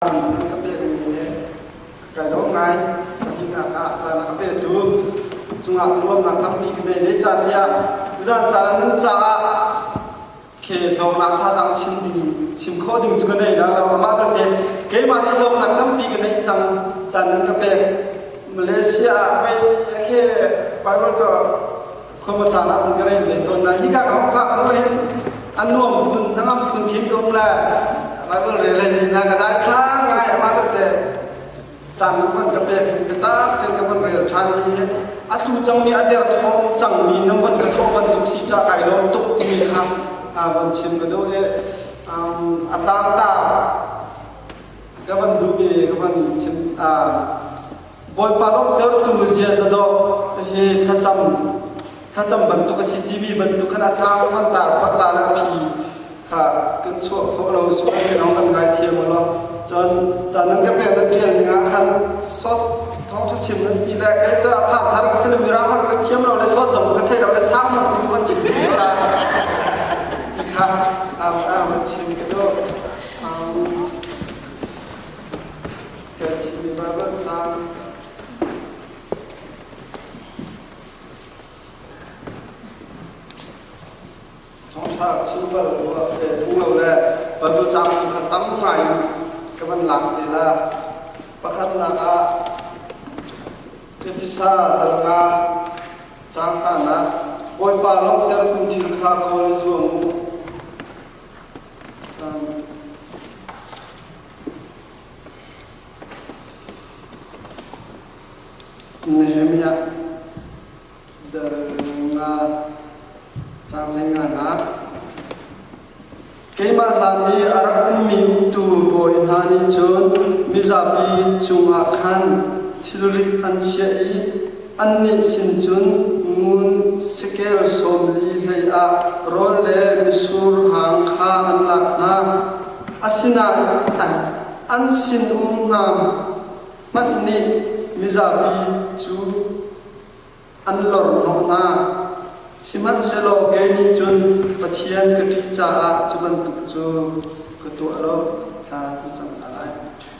a petu he kan um ngai. Pahnih ah caan a petu cungah nuamnak tampi kan nei. Zei caan tiah tulan caan nan caah ke lawmnak thazang chim ding chim khawh ding cu ka nei dah lo amah belte keimah nih lawmnak tampi ka nei cang caan nan ka pek Malaysia ah pei a khe Bible cu khawpa caan ah kan ka reng ve tawn na hi ka ka hok phak lo in an nuam phun nangam phun khim dong le bible re le ni na ka dai thlang ngai ama ta te caan man ka pek in ka ta ten ka man rel than hi hi a thlu chang mi a der thong chang mi nam van ka tho van tuk si cha kai lom tuk mi kha van chin ka do e a tam ta ka van du ke ka van chin Bawipa lawmhtertu ziaza dawh hi thlacam thlacam bantuk a si timi bantuk khan a tang an tar tak la la phi kha kan chuah khawh lo sual si lo kan ngaithiam lo cun chan nan ka pe nan ṭial dingah khan sawt thawngthu chim nan ti le kei cu a phak har ka si le mirang hang ka thiam lo le sawt dong ka thei lo le sang ma ni mon chim ka ti kha am am chim ka do Kachinmi Bible Cang thawngṭha chim bal te hmu lo le bantu cang kha tam ngai in ka van lang te la pakhatnak ah Efesa dal nga cang hnanak Bawipa lawmhter kum thil kha kawl zuam u Nehemiah nga caanglei nganak Keimah hlan i a rak ummi tuu bawi hna nih cun mizapi cungah khan thilrit an chiah i Annih sin cun ngun sekel sawm li hleiah rawl le mitsur hang kha an lak hna. Asinain an sinum hna hmanh nih mizapi cu an lorhnawh hna. Sihmanhsehlaw kei nih cun Pathian ka ṭih caah cu bantuk cu ka tuah lo, thla ka cam hna lai.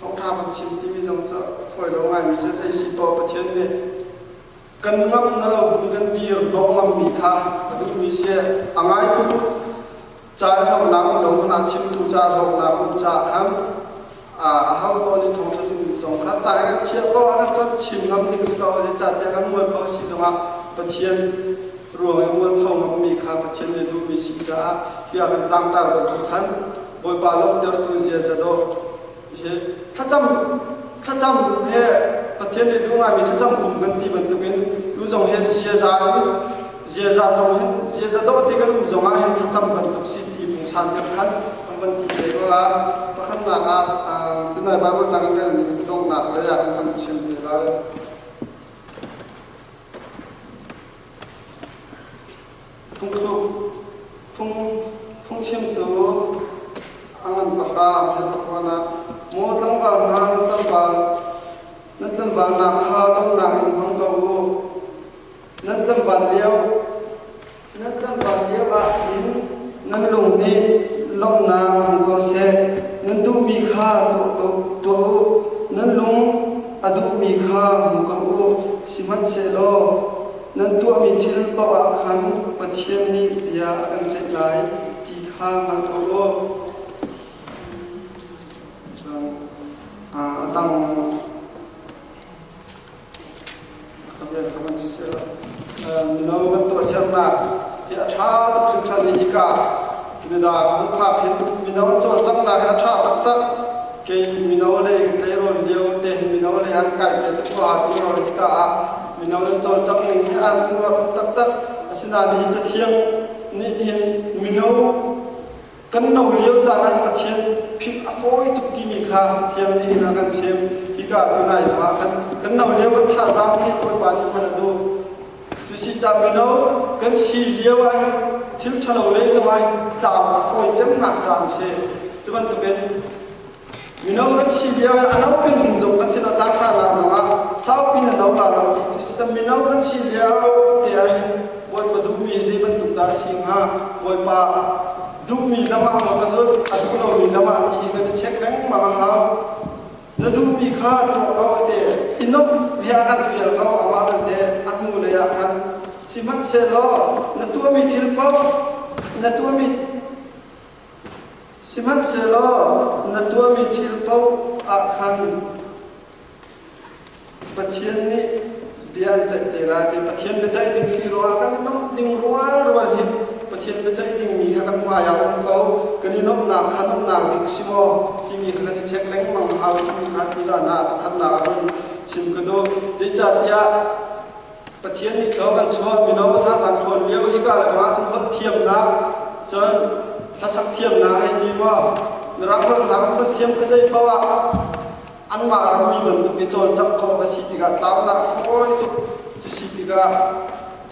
thawngṭha kan chim timi zong cu a fawi lo ngaimi cu zei si tuah Pathian nih kan ngamh na lo in kan dir lawngangmi kha ka duhmi si a ngaitu caan lonak dong hmanh ah chimtu ca lawmnak um caah a ho pawl nih thawngṭha zung zong kha ca kan thiah ko ahcun cun chim ngam ding si ko le catiang kan mual pho si zongah Pathian ruang i mual pho ngammi kha Pathian nih duhmi si caah bia kan tlangtar bantuk khan Bawipa lawmhtertu ziaza do hi thlacam thlacam he Pathian nih duh ngaimi thlacam kum kan ti bantukin tu zong hi ziaza in ziaza zong hin ziaza doh ti kan um zong ah hin thlacam bantuk si ti pungsan kan khan kan van ti te ko la pakhatnak ah tunai Bible cang in kan nih donghnak lei ah kan chim te lai Phungthluk phungchimtu angan pahra an pakhuan ah maw tlangval hna nan tlangval nan tlangval hna kha lawmnak in hmang ko u nan tlangval lio nan tlangval lio ah hin nan lung nih lawmhnak hmang ko seh nan duhmi kha tuah u nan lung a duhmi kha hmu ko u sihmanhsehlaw Nan tuahmi thil paohah khan Pathian nih bia a kan ceih lai ti kha hngalh awlaw a dang ka bia kha van si sehla mino kan tuah sernak hi a ṭha tuk hringhran i hika Canada kan phak hin mino cawlcanghnak hi a ṭha taktak kei mino le tleirawn lio te mino le an kai ve tuk hua cu rawl hika ah mino nan cawlcangh ning hi aa kum taktak asinain hihi cathiang nih hin mino kan no lio caan ah Pathian philh a fawi tuk timi kha cathiang nih hin a kan chim hika tunai zongah kan kan no lio kan thazaang hi Bawipa nih hman a duh cusi ca mino kan si lio ah hin thil ṭhalo le zong ah hin tlau a fawi cemnak caan si cu bantukin Minung na thi lio in a no pengin zung a cin a cang hna la zong ah saupi na no la lo ti cu si. Minung na thi lio ti ahhin Bawipa duhmi zei bantuk dah a si hnga? Bawipa duhmi lamah maw ka zulh, a duh lomi lamah ti hi kan i check lengmang a hau. Na duhmi kha tuah ko a ti. I nuamh bia kan fial ko, amah belte a hnulei ah khan. Sihmanhsehlaw na tuahmi thil paoh, na tuahmi Sihmanhsehlaw na tuahmi thil paoh ah khan Pathian nih bia an ceih te lai i Pathian biaceih ding si ruangah kan i nuamh ding rualrual hi Pathian biaceih dingmi kha kan hmai ah um ko kan i nuamhnak kha nuamhnak dik si maw timi kha kan i check lengmang hau timi kha tu zan ah pakhatnak ah cun chim ka duh zeicahtiah Pathian nih thlo kan chuah mino hna kan ṭhawn lio i ka lengah ahcun holh thiamnak cun hlasak thiamnak hei ti maw mirang holhnak holh thiam ka zei paoh ah anmah rammi bantuk i cawlcangh khawh ka si tikah tlaunak fawi tuk cu si tikah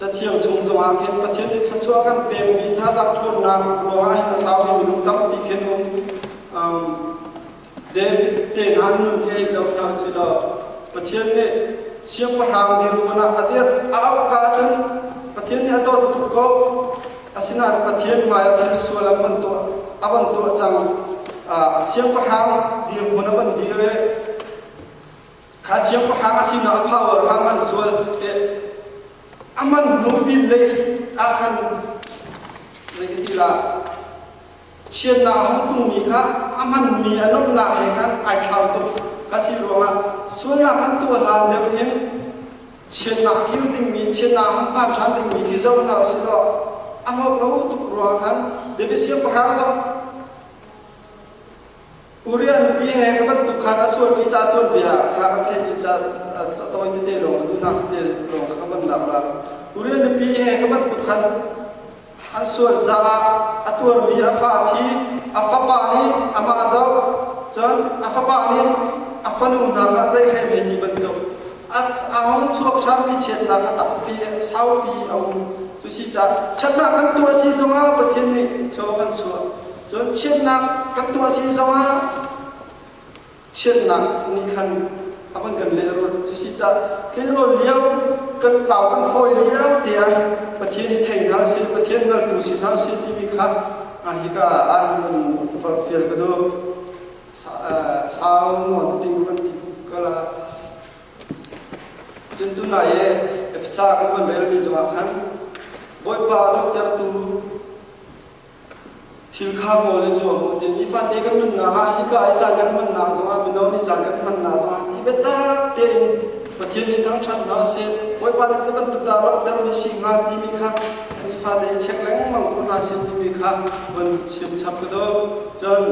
cathiang chung zongah khin Pathian nih thluachuah kan pekmi hna ṭhawnnak ruangah hin a tlau mi minung tampi khin um David tehna nu khi zoh hna si law Pathian nih siangpahrang dirhmun ah a dirh a auh ka ahcun Pathian nih a dawt tuk ko asinain Pathian hmai ah thil sual a van tuah a van tuah cang siangpahrang dirhmun a van dir i kha siangpahrang a sinah a power kha an sual i a man hnu pin lei ah khan zei ti lah Chiatnak a hung phungmi kha a hmanmi a nuamhnak he khan ai thlau tuk. Kha si ruangah sualnak kan tuah hlan deuh in chiatnak kir dingmi, chiatnak a hung phan ṭhan dingmi khi zoh hna usih law a hlawk lo tuk ruangah khan biafia siangpahrang zong Koreanpi he ka bantuk khan a sualmi ca tuanbia kha kan theih dih ca tawi tete lawng le nunah tete lawng kha kan lak ra. Korean mipi he ka bantuk khan an sual caah a tuarmi a fa thi a fapa nih amah a doh cun a fapa nih a fanu hna kha zeihhlei ve ti bantuk a hung chuak hrammi chiatnak kha tampi saupi a um. Cusi caah ṭhatnak kan tuah si zongah Pathian nih thlaw kan chuah. Cun chiatnak kan tuah si zongah chiatnak nih khan a van kan lehrulh. Cusi cah tleirawl lio kan tlau kan fawi lio tiah Pathian i thei hna si, Pathian hngaltu si hna si timi kha hika ah kan farfial ka duh. Sau nuan ping kan ti kala. Cun tunai e Efesa kan van relmi zongah khan Bawipa lutertu thil kha ka ol i zuam u ti nifate kan nunnak ah hika i caan kan hmannak zongah mino nih caan kan hmannak zongah i biatak tein Pathian i thangṭhat hna u sih Bawipa nih cu bantuk dah langhtermi si hnga timi kha nifate i check lengmang ko hna sih timi kha van chim chap ka do cun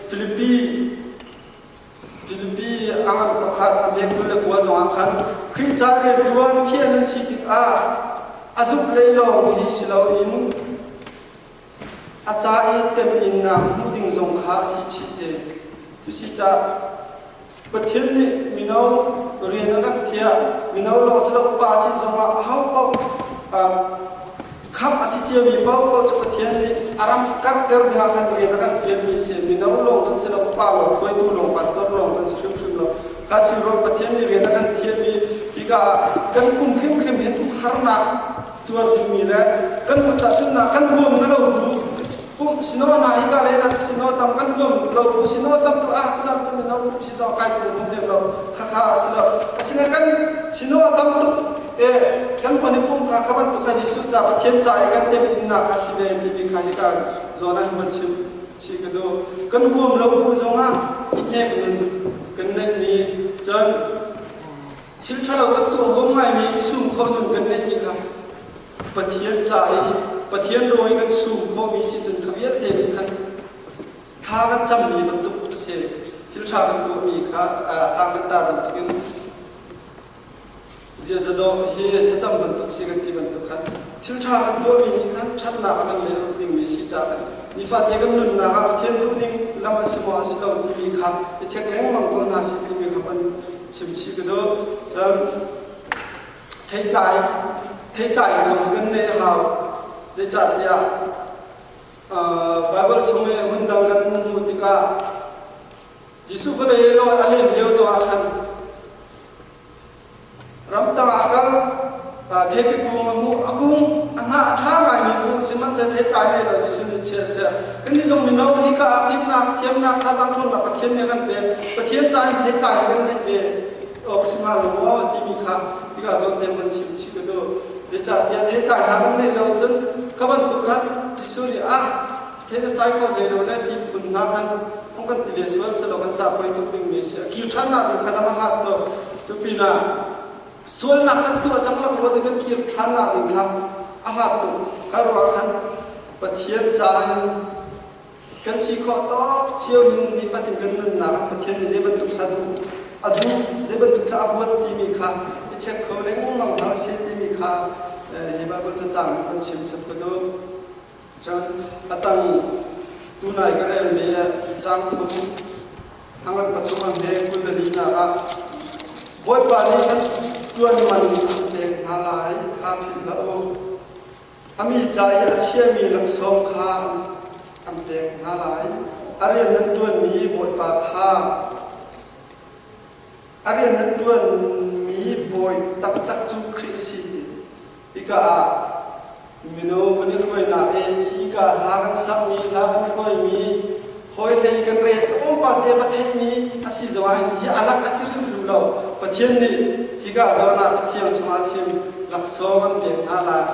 Philippi Cunpi a ngan pakhat a biaktu le kua zongah khan Khrihfa rianṭuan thian an si tikah a zumh lei lawng hi si loin a ca i temhinnak hmuh ding zong kha a si chih te. Cusicaah Pathian nih mino rian a kan thiah, mino lawng si lo pa sin zongah ahopaoh Khamh a si ciami Paolo cu Pathian nih a ram karhter dingah khan rian a kan ṭuanmi a si. Mino lawng an si lo, pa lawng, hruaitu lawng, pastor lawng kan si hrimhrim lo. Kan si ruang Pathian nih rian a kan thiam i hika ah kan pum hrimhrim he tukharnak tuar dingmi le kan kut tahchunhnak kan huam na lo bu pumh sino hna hika le nan sino tam kan huam lo bu sino tam tu ah cunak cu mino pumh si zong kai pum hrim lo khakha a si lo asinain kan sino a tam tuk e kanmah nih pumka kha bantuk khan Jesuh ca Pathian ca i kan temhimnak a si ve timi kha hi kan zawn ah hin chim chi ka duh kan huam lo hnu zong ah hnek nun kan neih ni cun thil ṭhalo kan tuah huam ngaimi sum kho nun kan neihmi kha Pathian ca i Pathian raw i kan sum khawhmi si cun kha vialte nih khan tha kan cammi bantuk a si thil ṭha kan tuahmi kha tha kan tar bantukin Ziazadawh hi thlacam bantuk si kan ti bantuk khan thilṭha kan tuahmi nih khan ṭhatnak a kan lehloh dingmi si caah nifate kan nunnak ah Pathian duhning lamh a si maw a si lo timi kha i check lengmang ko hna sih timi kha kan chimchih ka duh. Theitlaai theitlaai kong kan neih hau zeicahtiah Baibal chung i hmun dang kan hmuh tikah Jesuh kha be law a hlen lio tu ah khan ramtang ah kal thepi kung a hmuh a kung a hna a ṭha ngaimi kung sihmanhsehlaw theitlai hlei lo Jesuh nih chia a siah kan nih zong mino hi ka aa thimnak thiamnak tha dang ṭhawnnak Pathian nih a kan pek Pathian ca in theitlai in kan neih ve awk a si hnga lo maw timi kha tikah zawn te van chim chih ka duh zeicahtiah theitlai hna kan neih lo cun ka bantuk khan Jesuh nih ah thil a tlai kho hlei lo le ti phun hna khan an kan ti len sual silo kan cah poi tuk ding mi a si a khi ṭhan nak ding khan a hangak to tu pinah sualnak kan tuah cang lo rual in kan kir ṭhan nak ding kha a hngak tuk ka ruang khan Pathian caah hin kan si khawh tawk cio hin nifatin kan nunnak ah Pathian nih zei bantuk sa duh a duh zei bantuk thla a huat ti mi kha i check kho lengmang hna a si ti mi kha hi Bible cacang kan chim chap ko Cun a tang tunai ka relmi caang thum thlangan pathum an hme kundalininak ah Bawipa nih kan ṭuan man an pek hna lai kha philh hlah u. A mi ca i a chiami laksawng kha an pek hna lai. A rian nan ṭuanmi Bawipa kha a rian nan ṭuanmi bawi taktak cu Khrih a si ti Hika ah mino kan i hruainak in hika hla kan sakmi, hla kan hruaimi, hawihlei kan rel tlawm palte Pathianmi asi zong ahhin hi alak asi hrimhrim lo. Pathian nih hika zawn ah cathiang chungah chim laksawng an pek hna lai.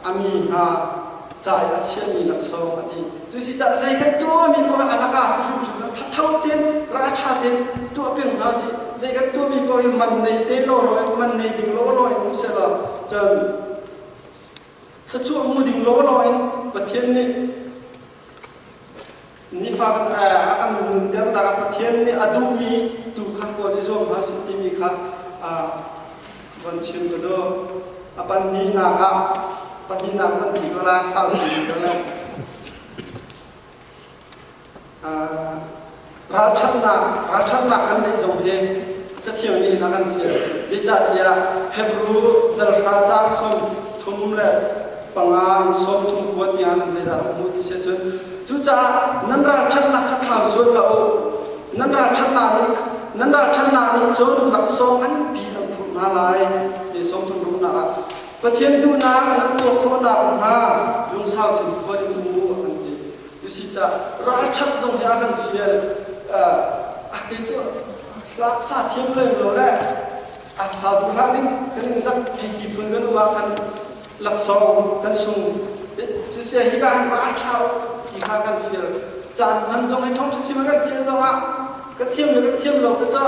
Ami hna, ca i a chiami laksawng a ti. Cusicaah zeihmanh tuahmi poah a laka hrimhrim a thatho ten ra tha ten tuah peng hna si. Zeihmanh tuahmi poah hi man nei te lawlaw in man nei ding lawlaw in um sela cun thluachuah hmu ding lawlaw in Pathian nih Nifak a kan nunter nak Pathian nih a duhmi tu kha kawl i zuam hna si timi kha von chim ka duh. A pahnihnak ah pahnihnak van ti ka la saupi ka la. Ralṭhatnak ralṭhatnak kan neih zong hi cathiang nih a kan fial. Zeicahtiah Hebrew darhra caang sawm thum le panga in sawm thum khua tiang in zeidah a hmuh ti si cun cucaah nan ralṭhatnak kha thlau zual la u nan ralṭhatnak nih nan ralṭhatnak nih cun laksawng nganpi an phurh hna lai ni sawm thum ruknak ah Pathian duhnak nan tuah khawhnak hnga lungsau thum khua in u an ti usicah ralṭhat zong hi a kan fial a kei cu laksa thiam lem lo le an sau bu hlah ning kan in zam ti ti phun kan uma kan laksong kan sung cu sia hi ka han ba thau ti kha kan feel chan man zong hai thong si ma kan thiam zong ah kan thiam le kan thiam lo ka cho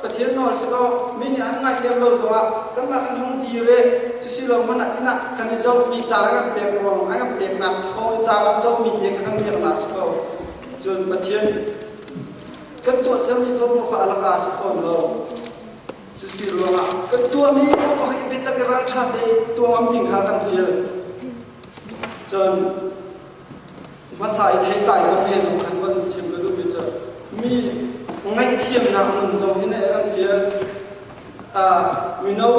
pathian nol si ko mi ni an ngai lem lo zong ah kan ma kan hong di re cu si lo man ina kan i zo mi cha la kan pek ruang an kan pek nak tho cha la zo mi te kan miak na si ko cun pathian Kan tuah cemmi thawngṭha kha a laka a si fawn lo. Cusi ruangah kan tuahmi pakhat i biatak i ralṭhat i tuangam ding kha kan feel. Cun hmasa i theitlai lo he zong khan kan chim ka duhmi cu mi ngaihthiamnak nun zong hi ne an feel. Uh, mino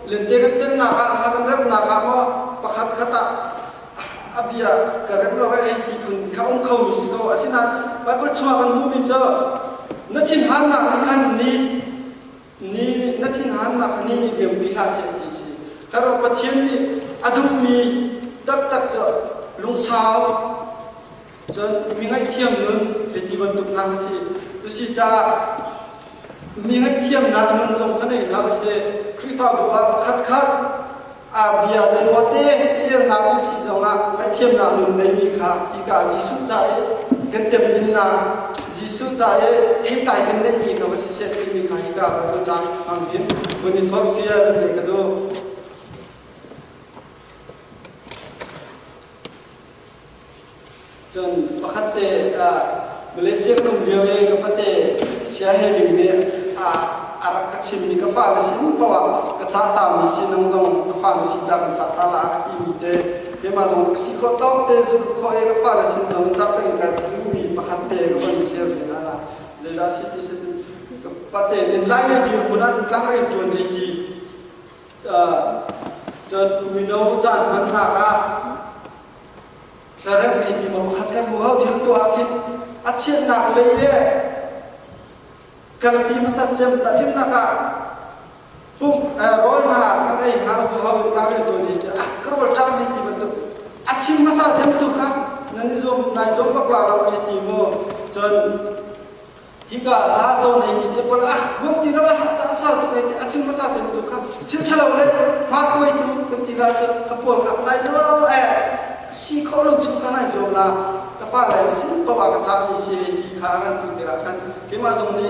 lente kan cennak ah, kan remnak ah maw pakhat khat ah a bia ka rem lo ai ti phun kha um kho mi si ko asinain Bible chungah kan hmuhmi cu na thinhannak nih khan ni ni na thinhannak ni ni liampi hlah seh ti si ka ro Pathian nih a duhmi taktak cu lungsau cun mi ngaihthiam nun hei ti bantuk hna si tusi caah mi ngaihthiamnak nun zong kha nei hna u si Khrihfabu ah pakhat khat bia zei ruah te irnak um si zongah ngaihthiamnak nun ngeimi kha hika Jesuh ca i kan temminnak Jesuh ca i theitlai kan neihmi kha va si set timi kha hika ka tu caan hmangin mun in forfial te ka du Cun pakhat te Malaysia ka um lio i ka pate Sia He Ling nih a rak ka chimmi ka fa na si hnu paoh ah ka cah tami si nang zong ka fa na si ca ka cah ta la a timi te keimah zong rak si khawh tawk te zulh khawh i ka fa na sin zong cah peng ka timi pakhat te ka von share ve hna la zeidah si ti si ka pate nin lai ni dir kun ah tlak ri ṭuan ei ti cun mino caan hmannak ah thlarem ngei mi mong khat kan hmu hau cang tuah ah khin a chiatnak lei le kan mi hmasat cem ta thimnak ah pum rawl na kan ei ha hu hau ta we to ni ah karol ta mi ti bantuk a chim hmasa cem tu kha nan i zuam nai zuam bak la lo ke ti mu cun hika la co nei ki te pon a huam ti lo a chan sar tu ne a chin masa chin tu kha chin thalo le ma koi tu kan ti la che ka pol ka lai lo e si kho lo chu ka nai zo la ka fa le si pawa ka cha mi si kha kan tu te ra khan ke ma zong ni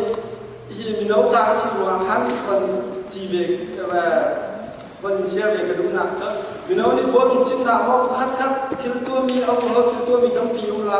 hi mi no cha si ruwa khan kon ti ve bon sia ve ka dum nak cha mi no ni bon chin na mo khat khat thil tu mi au ho thil tu mi tam pi u la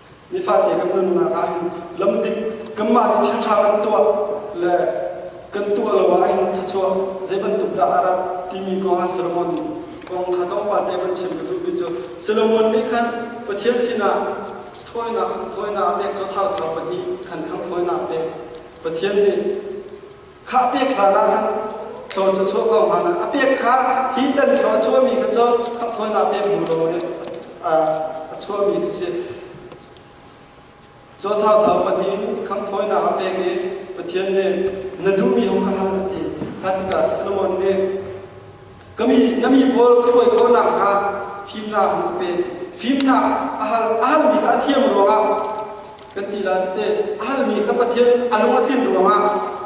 Nifate kan nunnak ah hin lamdik kanmah nih thil ṭha kan tuah le kan tuah lo ah hin thluachuah zei bantuk dah a rat timi kong ah Solomon nih kong kha tlawmpal te van chim ka duhmi cu Solomon nih khan Pathian sinah thawinak thawinak pek cu thau thau pahnih khan khan thawinak pek Pathian nih Khah pek hlanah khan thlaw cu chuah ko hna a pek kha hi tan thlaw a chuahmi kha cu khamh thawinak pek hmu law a chuahmi kha si Caw thau thau pahnih kham thawinak a pek i Pathian nih na duhmi hong ka hal a ti khan ka Solomon nih na mi pawl ka hruai khawhnak kha fimnak in ka pek fimnak a hal a halmi kha a thiam ruangah kan ti la cite a halmi ka pathian a lung a thin ruangah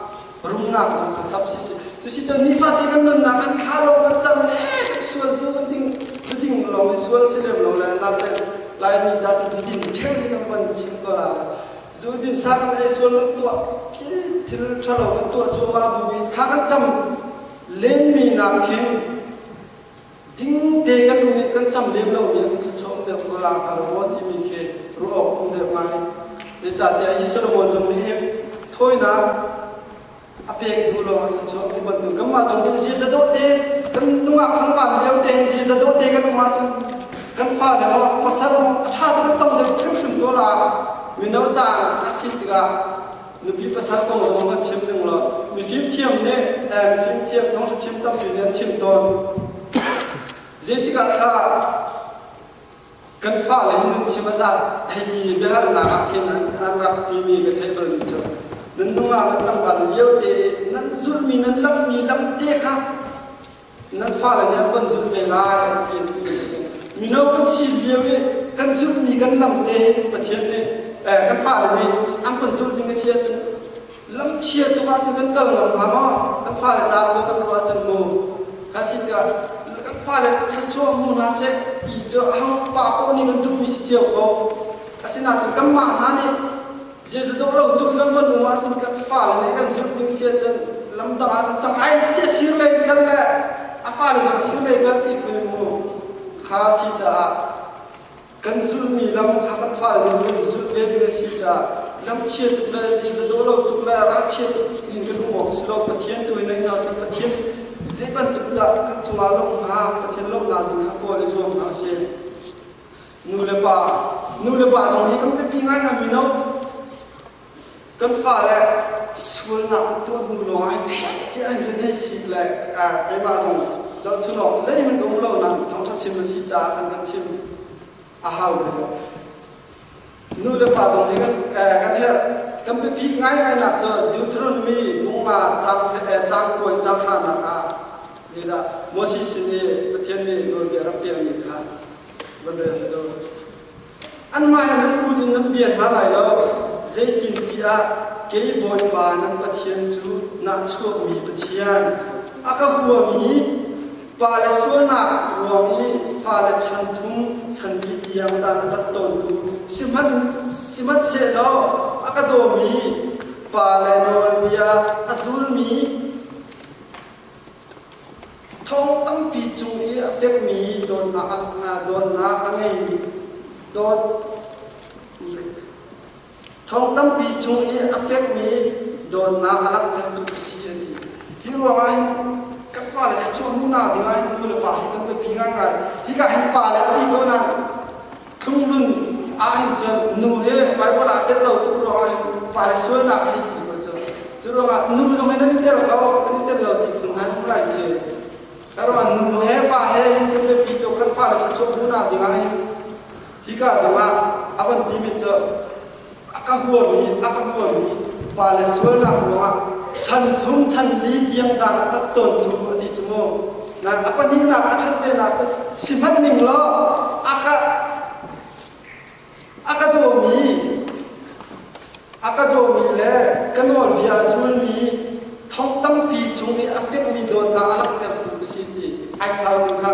rumnak zong kha chap si si cu si cun nifate kan nunnak an thla lo kan cang sual cu kan ding cu ding long i sual si lem lo le na te lai mi chat si din kheng ni kan pan chim ko la zu din sang le sual tuah ki thil thalo kan tuah chu ma bu bi tha kan cham lenmi nak hin ding te kan um kan cham lem lo mi khi chong le kula ka ro ti mi khi ru ok um le mai e cha te hi solomon zong ni thoina a pek hnu lo sa chong ni ban tu kama zong tin si za do te kan nunga khang ban leo te si za do te kan ma chang kan fa le ma pasar a tha kan cham le kan hrim to la mino cha a si tiga Nupi pasal kong zong an chim ning lo. Mi fimthiam nih eh, fimthiam thawngtha chim tampi nih an chim tawn. Zeitikah kha kan fale hi nun chim a zat hei ti biahalnak ah khin an rak timi ka thei bal mi cu nan nungak kan tanggal lio te nan zulmi nan lammi lam te kha nan fale nih an kan zulh ve lai ti an ti. Mino kan si lio i kan zulhmi kan lam te Pathian nih kan fale nih an kan zulh ding a si ahcun lam chia tuk ahcun kan kal ngam hnga maw kan fale caah maw kan ruah ahcun mu ka si tikah kan fale thluachuah mu hna seh ti cu hang pa poh nih kan duhmi si cio ko asinain kanmah hna nih Jesuh dawh lo tuk kan manu ah cun kan fale nih kan zumh ding si cun lamtang ah cun cang ai ti sir men kal le a fale zong sir men kal ti pui mu kha si caah kan zulmi lam kha kan fale nih kan zul ve ding a si caah lam chia tuk le Jesuh dawh lo tuk le ral chia tuk in kan um awk si lo Pathian tu in ai cun Pathian zei bantuk dah kan cungah lawmh hnga Pathian lawmhnak ding kha kawl i zuam hna u sih nulepa, nulepa zong hi kan biapi ngai hna mino. Kan fale sualnak tuah hnu lawng ah heh tiah an kan hei sik le keimah zong zohchunawk zeihmanh ka hmu lo na thangṭhat chim a si caah kan kan chim a hau deuh. Nulepa zong hi kan, kan herh kan biapi ngainainak cu Deuteronomy nunga cang cang puan cang hranak ah zeidah Moses sin i Pathian nih nawlbia rak tialmi kha Anmah in an lut in nan bia hna lai lo, zeitintiah kei Bawipa nan Pathian cu nahchuakmi Pathian, a ka huami pa le sualnak ruang i fale chan thum chanti tiang ta ka tat tawntu sihmanhsehlaw a ka dawmi pa le nawlbia a zulmi Thong tampi cung i a fekmi dawtnak ah dawtnak a ngeimi dawt thong tampi chung i a fekmi dawtnak a langhter tuk a si a ti. Hi ruangah hin kan fale cu hmuhnak dingah hin nu le pa hi kan biapi ngaingai. Hika hin pa le a ti ko nain Thlunglun ah hin cun nu he Baibal aa tel lo tuk ruangah fale sualnak a hei ti ruah cu. Cu ruangah nu zong hi nan i tel ko, nan i tel lo ti phung nan hmu lai cu. Ka ruangah nu he pa he biapi tuk kan fale thluachuah hmuhnak dingah hi hika dingah a van timi cu a ka huami a ka huami pa le sualnak ruangah chan thum chan li tiang dang a tat tawn tu a ti cu mu na a pahnihnak a ṭhat venak cu si hmanh ning law a ka a ka dawmi a ka dawmi le ka nawlbia a zulmi thong tampi chung i a fekmi dawt hna a langhtertu ka si ti ai thlau kha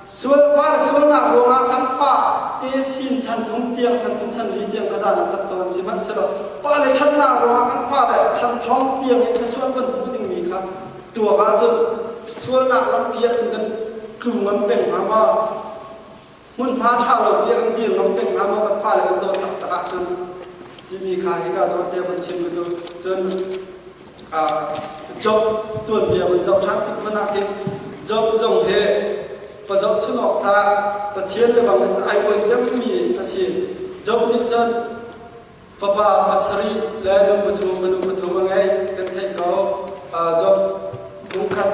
Sualpa le sualnak ruangah kan fa te sin chan thum tiang, chan thum chan li tiang ka dan kan ton sihmanhsehlaw pa le ṭhatnak ruangah kan fa le chan thong tiang i thluachuah kan hmu dingmi kha tuak ahcun sualnak lampi ahcun kan tlu ngam peng hnga maw? Hmunhma ṭha lo pi ah kan dir ngam peng hnga maw kan fa le kan dawt taktak ahcun timi kha hika zawn te von chim u cu cun job tuanbia kan cohlang tik hmanh ah hin job zong hi pa zohchun awk tha Pathian le bang in ai kuai cangmi a si job nih cun fapa pasarih le nu pathum manu pathum a ngei kan theih ko job pung khat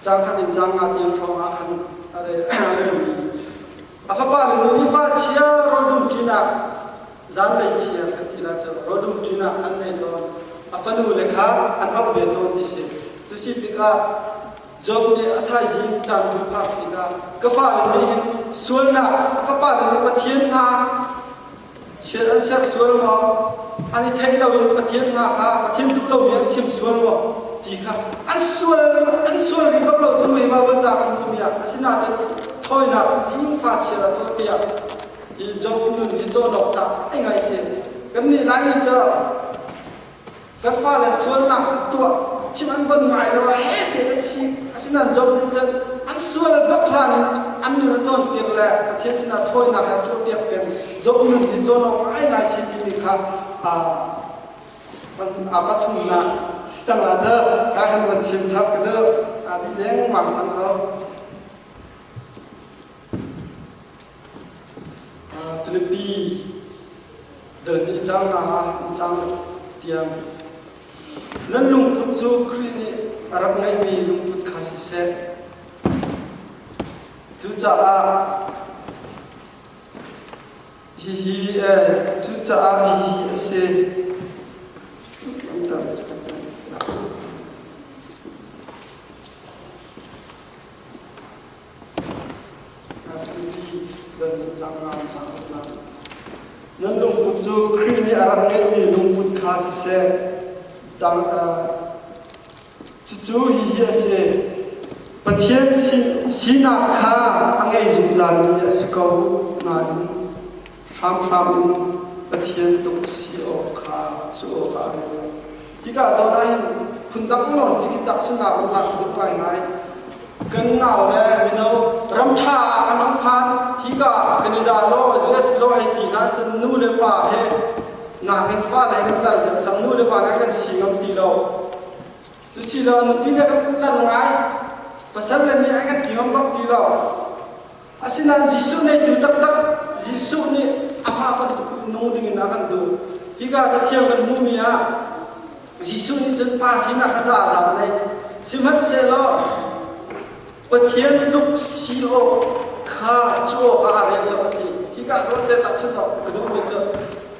cang khat in cang nga tiang thawng ah khan a re A fapa nu nupa chia rodum ṭinak zanlei chia kan ti lah cu rodum ṭinak an ngei tawn a fanu le kha an auh ve tawn ti si cu si tikah Job nih a thaizing caan bu phak tikah ka fale nih hin sualnak fapa le Pathian hna Chiat an serh sual maw? An i theih loin Pathian hna kha Pathian duh lomi an chim sual maw? ti kha an sual an sual rih bak lo cu meivau kan ca kan hmuh piak asinain thawinak zingfa chiat a tuah piak i Job nun hi cawhnok tah ai ngai si kannih Laimi cu Kan fale sualnak an tuah, chim an bon ngai lo, a he te an si, asinan zom nih cun an sual bak hlan in an nun a cawn piak le Pathian sinah thawinak le tuah piak peng zom nun hi cawn awk ngai ngai si timi kha aa pathumnak si cang la cu ka kan van chim chap ka deu a ti dengmang cang to Filipi dal ni cangnak ah cang tiang nan lungput cu Khrih nih a rak ngeimi lungput kha siseh cucaah hihi cucaah hihi a si Nan lungput cu Khrih nih a rak ngeihmi lungput kha siseh, cang, cucu hihi a si. Pathian sinak kha a ngei zungzalmi a si ko nain hramhram in Pathian tuk si awk kha cu awkah a ruat. Tikah cun ai phundang law ti khi tahchunhnak in lak duk ngaingai. Kan nau le mino ramṭha ah kan hung phan hika kan i dah law US law hei ti hna cun nu le pa he nakin fale kan kal deuh cang nu le pa nan kan si ngam ti lo cu si lo nupi le kan lan ngai pasal le nih ai kan ti ngam bak ti lo Asinain Jesuh nih tu taktak Jesuh nih amah bantuk nu dingin a kan duh. Hika cathiang kan hmuhmi ah Jesuh nih cun pa sinak kha zaza a neih. Sihmanhsehlaw Pathian tluk si awk kha cu awkah a rian lo a ti. Hika zawn te tahchunh awk ka duhmi cu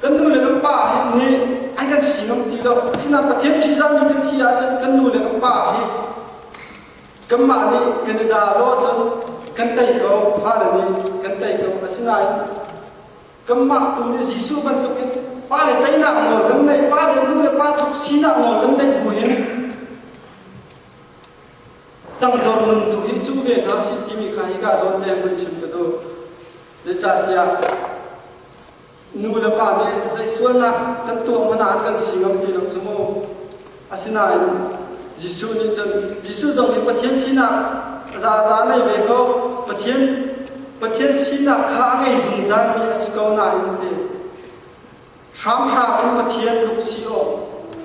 kan nu le kan pa hi nih an kan si ngam ti lo. Asinain Pathian mihri zammi kan si ahcun kan nu le kan pa hi kanmah nih kan i dah law cun kan tei ko fale nih kan tei ko asinain kanmah tu nih Jesuh bantukin fale teinak nawl kan neih fale nu le pa tluk sinak nawl kan neih bu in tangdor nun tu hi cu ve hna si timi kha hi ka zawn leng mun chim ka du ne catiah nu le pa nih zei sualnak kan tuah hmanh ah kan si ngam ti lo cu mu. Asinain Jesuh nih cun Jesuh zong hi Pathian sinak zaza a ngei ve ko. Pathian Pathian sinak kha a ngei zungzalmi a si ko nain a ti. Hramhram in Pathian tluk si awk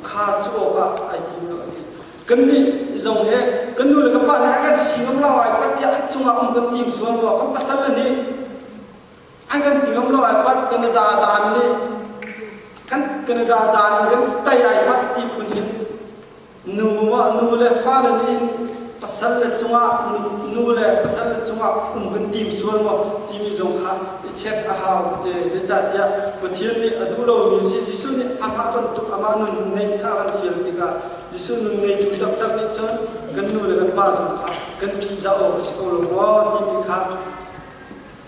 kha cu awkah ai tim lo a ti. Kannih zong he kan nu le kan pa nih a kan si ngam lo ai tiah cungah um kan tim sual rua kan pasal le nih an kan ti ngam lo ai pat Canada dan le kan Canada dan in kan tai ai pat ti phun in nu ah nu le fa le nih pasal le chungah nu le pasal le chungah um kan tim sual maw timi zong kha i check a hau zeicahtiah Pathian nih a duh lomi si Jesuh nih amah bantuk amah nun ngeih kha kan fial tikah Jesuh nun ngeitu taktak nih cun kan nu le kan pa zong kha kan ṭih zah awk a si ko lo maw timi kha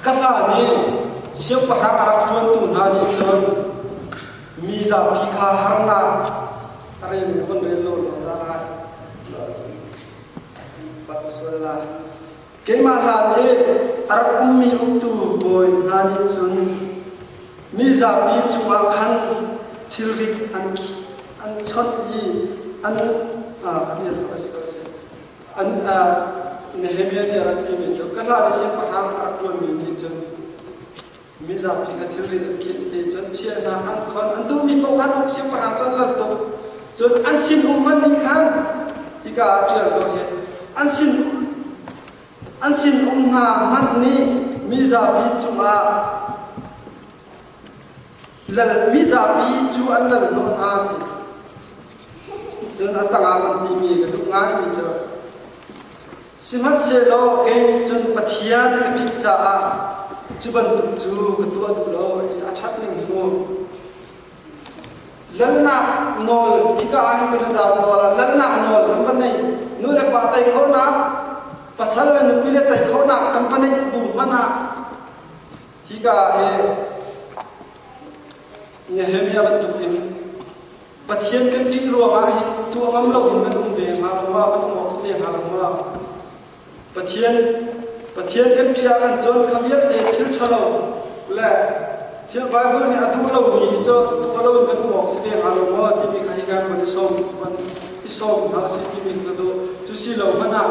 Ka pa nih siangpahrang a rak ṭuantu hna nih cun mi zapi kha harnak a rel khun rel lo zungzal lai tiah a ti. Bak sual lai. Keimah hla nih a rak ummi uktu bawi hna nih cun mi zapi cungah khan thilrit an an chawnh i an ah a dir kha va si ko sih. an Nehemiah nih a rak timi cu ka hla le siangpahrang a rak ṭuanmi nih cun mi zapi kha thilri an khenhte cun chiah hna an khon an duhmi paoh siangpahrang cu an lal tuk cun an sinum man nih khan hika ah ṭial ko hi an sin an sinum hna man nih mi zapi cungah Lalmi zapi cu an lal hnawh hna cun a tangah an timi ka duh ngaimi cu sihmanhsehlaw kei nih cun Pathian ka ṭhit caah cu bantuk cu ka tuah duh lo ti a ṭhat ning mu. Lalnak nawl hika ah hin kan dah tual ah lalnak nawl kan va neih nu le pa tei khawhnak pasal le nupi le tei khawhnak kan va neih bu hmanhah Hika ah hi Nehemiah bantuk in Pathian kan ṭih ruangah hi tuah ngam loin kan um ve hnga lo ma, kan um awk si ve hnga lo ma. Pathian Pathian kan ṭih ah kan cun kha vialte thil ṭhalo le thil Bible nih a duh lomi hi cu tuah loin kan um awk si ve hnga lo maw timi kha hika kan i sawm kan i sawm hna a si timi ka duh. Cu si lo hmanh ah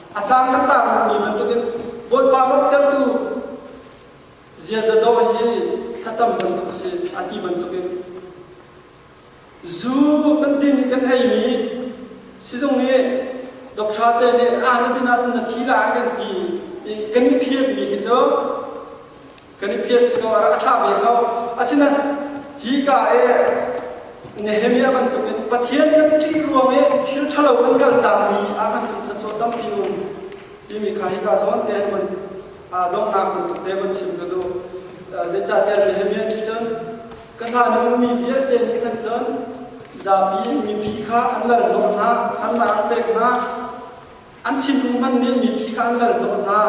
A caan kan tarmi bantukin Bawipa lawmhtertu ziaza dawh hi thlacam bantuk a si a ti bantukin zu kan din i kan eimi sizung nih doctor te nih ah na din ahcun na thi la kan ti i kan i phiatmi hi cu kan i phiat siloah a ṭha ve ko. Asinain hi ka e Nehemiah bantuk in Pathian kan ṭih ruang i thil ṭhalo kan kaltakmi Ahan cu cacaw tampi um timi kha hika zawn te hun donghnak bantuk te hun chim ka duh. Zeicahtiah Nehemiah nih cun ka hlan i ummi vialte nih khan cun zapi in mipi kha an lal hnawh hna, harnak an pek hna, An thinlung hmanh nih mipi kha an ral hnawh hna,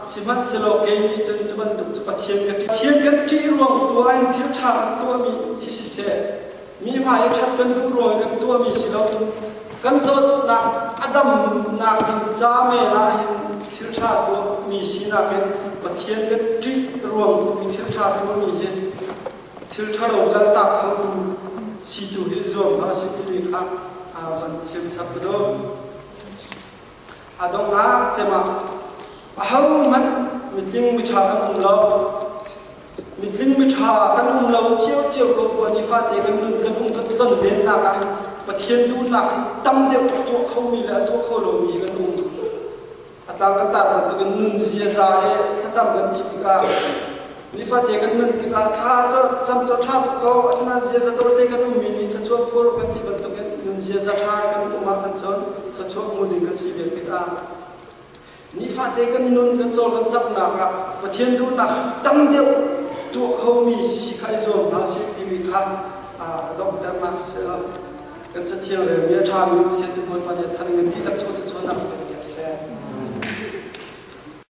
sihmanhsehlaw kei nih cun cu bantuk cu Pathian ka ṭih. Pathian kan ṭih ruang tuah in thil ṭha kan tuahmi hi siseh, mi hmai i ṭhat kan duh ruang i kan tuahmi si loin kan zawtnak a damnak in ca men ah hin thil ṭha tuahmi sinak in Pathian kan ṭih ruang tu i thil ṭha tuahmi hi thil ṭhalo kaltak khotu si tu hi zuam hna sih timi kha van chim chap ka duh. a donglar cemah a ho hmanh mitling miṭha kan um lo mitling miṭha kan um lo cio cio ko kuwa nifate kan nun kan um kan ton vennak ah Pathian duhnak tam deuh a tuah khomi le a tuah kho lomi kan um a tlang kan tar bantukin nun ziaza he thlacam kan ti tikah Nifate kan nun tikah thla cam cu ṭha ko, asinain ziaza dawte kan ummi nih thluachuah phur kan ti bantukin nun ziaza ṭha kan um ahkhan cun thluachuah hmu ding kan si ve pit ah. Nifate kan nun kan cohlan caknak ah Pathian duhnak tam deuh tuah khomi si kha i zuam hna sih timi kha donghternak kan cathial relmi a ṭhami siatu bawipa nih a than ngan dihlak chuah cuanak pek a si.